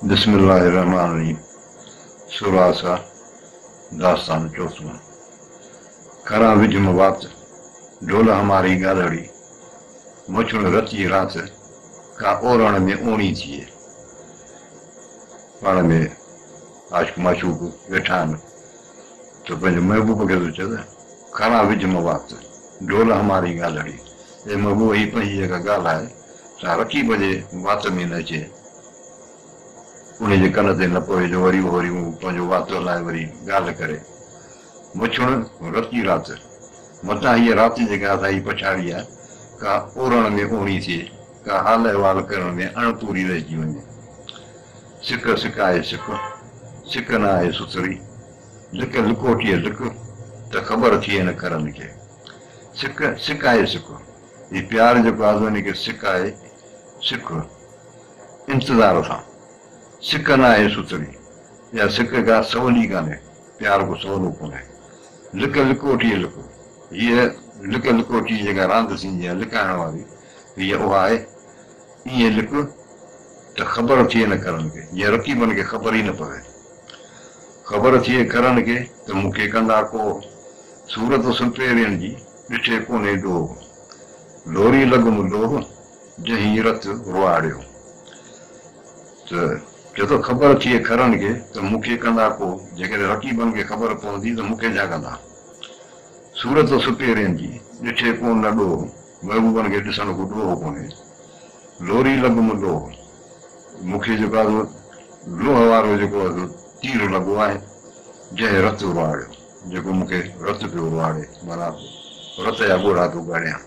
بسم الله الرحمن الرحيم سورا سا داستان چوٿون ڪران وجھ م وات ڍول ھماري ڳالھڙي مڇڻ رتي رات ڪا اورڻ ۾ اوڻي ٿئي پاڻ ۾ عاشق معشوق ويٺا آھن ته پنهنجي محبوب کي ٿو چوي کڻان وجهه مان وات، ڍول هماري ڳالهڙي. اي محبوب هي پنهنجي جيڪا ڳالهه آهي سا رقيب جي وات ۾ نه اچي، انهي جي ڪن تي نه پوي جو وري اهو ريون پنهنجو وات هلائي وري ڳالهه ڪري. مڇڻ رتي رات، متان هيء رات جيڪا اسان جي پڇاڙي آهي ڪا اورڻ ۾ اوڻي ٿئي، ڪا حال احوال ڪرڻ ۾ اڻ پوري رهجي وڃي. سڪ سڪ آهي سڪ، سڪ نه آهي سٿري، لڪ لڪوٽيء لڪ، ته خبر ٿئي هن کرن کي. سڪ سڪ آهي سڪ، هي پيار جيڪو آزوني کي سڪ آهي سڪ، انتظار سان، سڪ نه آهي سٿري، اها سڪ ڪا سولي ڪانهي، پيار ڪو سولو ڪونهي. لڪ لڪوٽيء لڪ، هيء لڪ لڪوٽيء جيڪا راند ٿيندي آهي لڪائڻ واري، هيء اها آهي. ائين لڪ ته خبر ٿئي نه ڪرڻ کي، جيئن رقيبن کي خبر ئي نه پوي. خبر ٿئي ڪرڻ کي ته مون کي ڪندا ڪو صورت سپهرين جي، ڏٺي ڪونهي ڏوهه. لوري لڳم لوهه، جنهين رت روئاڙيو. ته چئي ٿو خبر ٿئي ڪرڻ کي ته مون کي ڪندا ڪو، جيڪڏهن رقيبن کي خبر پوندي ته مون کي ڇا ڪندا. صورت سپهرين جي، ڏٺي ڪو نه ڏوهه. محبوبن کي ڏسڻ ڪو ڏوهه ڪونهي. لوري لڳ م لوهه. مون کي جيڪو آهي سو لوهه وارو جيڪو آهي سو تير لڳو آهي، جنهن رت اروهاڙيو، جيڪو مون کي رت پيو اروهاڙي، معنيٰ رت جا ڳوڙها پيو ڳاڙيان.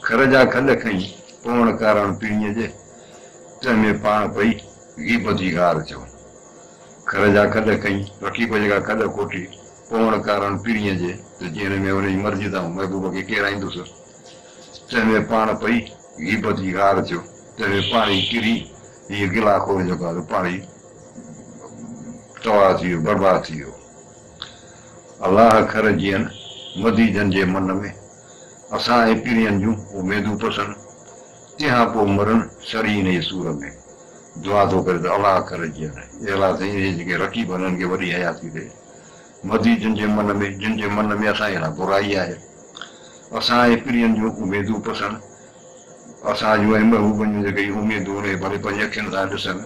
کر جا کل کئين، پوڻ ڪارڻ پيڻيء جي، تنهن ۾ پاڻ پئي غيبت جي غار ٿيو. کر جا کل کئين، رقيب جيڪا کل کوٽي، پوڻ ڪارڻ پرينء جي ته جنهن ۾ انهيء مرضيء تان محبوب کي ڪيڙائيندس، تنهن ۾ پاڻ پئي غيبت جي غار ٿيو، تنهن ۾ پاڻ ئي ڪري هيء گلا خور جيڪو آهي سو پاڻ ئي تباهه ٿي ويو، برباد ٿي ويو. الله کر جيئن مديجن جي من ۾ اسان ۽ پرينء جون اميدون پسن، تنهان پوء مرن سري انهيء سور ۾. دعا ٿو ڪري ته الله کر جيئن، اي الله سائين انهيء جيڪي رقيب آهن انهن کي وڏي حياتي ڏي. مھدي جن جي من ۾، جن جي من ۾ اسان جي لاء برائي آھي. اسان جي پرين جون اميدون پسڻ، اسان جون ۽ محبوبن جون جيڪي اميدون اھي ڀلي پنھنجي اکين سان ڏسن،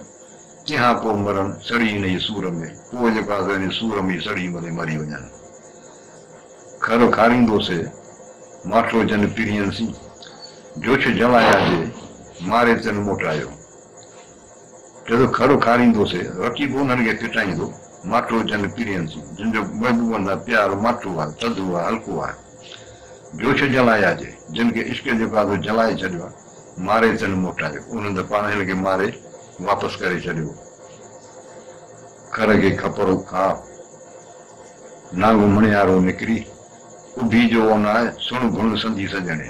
تنھان پوء مرن، سڙي ان جي سور ۾، پوء جيڪو آھي سو ان جي سور ۾ ئي سڙي مري مري وڃن. کر کاريندو سي، ماٺو جن پرين سين، جوڇ جنوايا جي، ماري تن موٽايو. جڏو کڙو کاريندو سي رقيب انهن کي ڦٽائيندو ماٺو جنگ پيرين سين جن جو محبوبن سان پيار ماٺو آهي ٿڌو آهي هلڪو آهي جوش جلايا جي جن کي عشق جو گاڌو جلائي ڇڏيو آهي ماري تن موٽايو انهن ته پاڻ هن کي ماري واپس ڪري ڇڏيو کر کي کپرو کاء نانگو مڻيارو نڪري اڀي جو اوناء سڻ گهڻ سندي سڄڻي.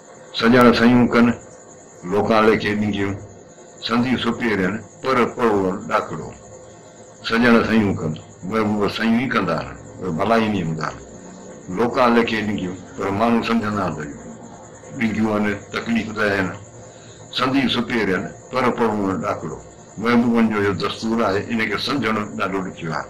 سڄڻ سيون ڪن، لوڪان ليکي ڏينديون، سندي سپيرين، پر پروڙ ڏاکڙو. سڄڻ سيون ڪن، مئي مور سيون ئي ڪندا آهن، پر ڀلائي ني هوندا آهن. لوڪان ليکي ڏينديون، پر ماڻهو سمجهندا آهن ته ڏينديون آهن، تڪليف ته اهي نه. سندي سپيرين، پر پروڙ ڏاکڙو. مئي مورن جو اهو دستور آهي، ان کي سمجهڻ ڏاڍو ڏکيو آهي.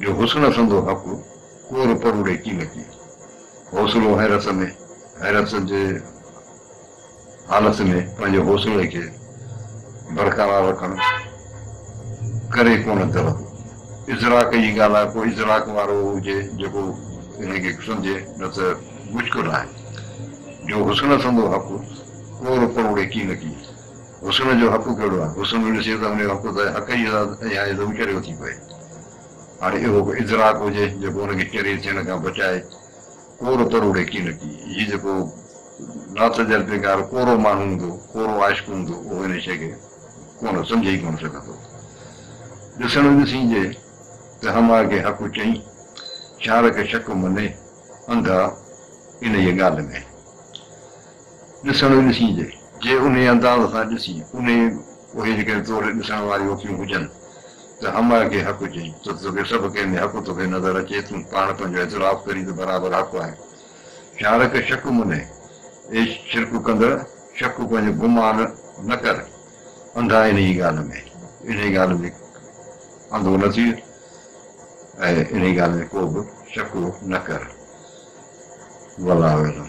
جو حسن سندو حق ڪور پروڙي ڪي نه ڪي. حوصلو حيرت ۾ حيرت جي حالت ۾ پنهنجي حوصلي کي برقرار رکڻ ڪري ڪونه درندو. ادراڪ جي ڳالهه آهي پوء ادراڪ وارو هجي جيڪو انهي کي سمجهي نه ته مشڪل آهي. جو حسن سندو حق ڪور پروڙي ڪي نه ڪي. حسن جو حق ڪهڙو آهي؟ حسن نه ڏسي ته ان جو حق ته حق ئي ذات يا عزم چريو ٿي پئي. هاڻي اهو ڪو ادراڪ هجي جيڪو ان کي چري ٿيڻ کان بچائي. ڪورو تروڙي ڪي نه ڪي. هي جيڪو لاتجربيڪار ڪورو ماڻهو هوندو، ڪورو عاشق هوندو، اهو ان شيء کي ڪونه سمجهي ئي ڪونه سگهندو. ڏسڻ ڏسين جي ته هماء کي حق چئين، شارڪ شڪ مني، انڌا انهيء ڳالهه ۾. ڏسڻو ڏسين جي جي انهي انداز سان ڏسين انهي اهي جيڪي توڙي ڏسڻ واريون اکيون هجن ته همه کي حق چئين ته توکي سڀ ڪنهن ۾ حق توکي نظر اچي تون پاڻ پنهنجو اعتراف ڪرين ته برابر حق آهي شارڪ شڪ منهي اي شرڪ ڪندڙ شڪ پنهنجو گمان نه ڪر انڌا انهي ڳالهه ۾ انهي ڳالهه ۾ انڌو نه ٿي ۽ انهي ڳالهه ۾ ڪو به شڪ نه ڪر والله اعلم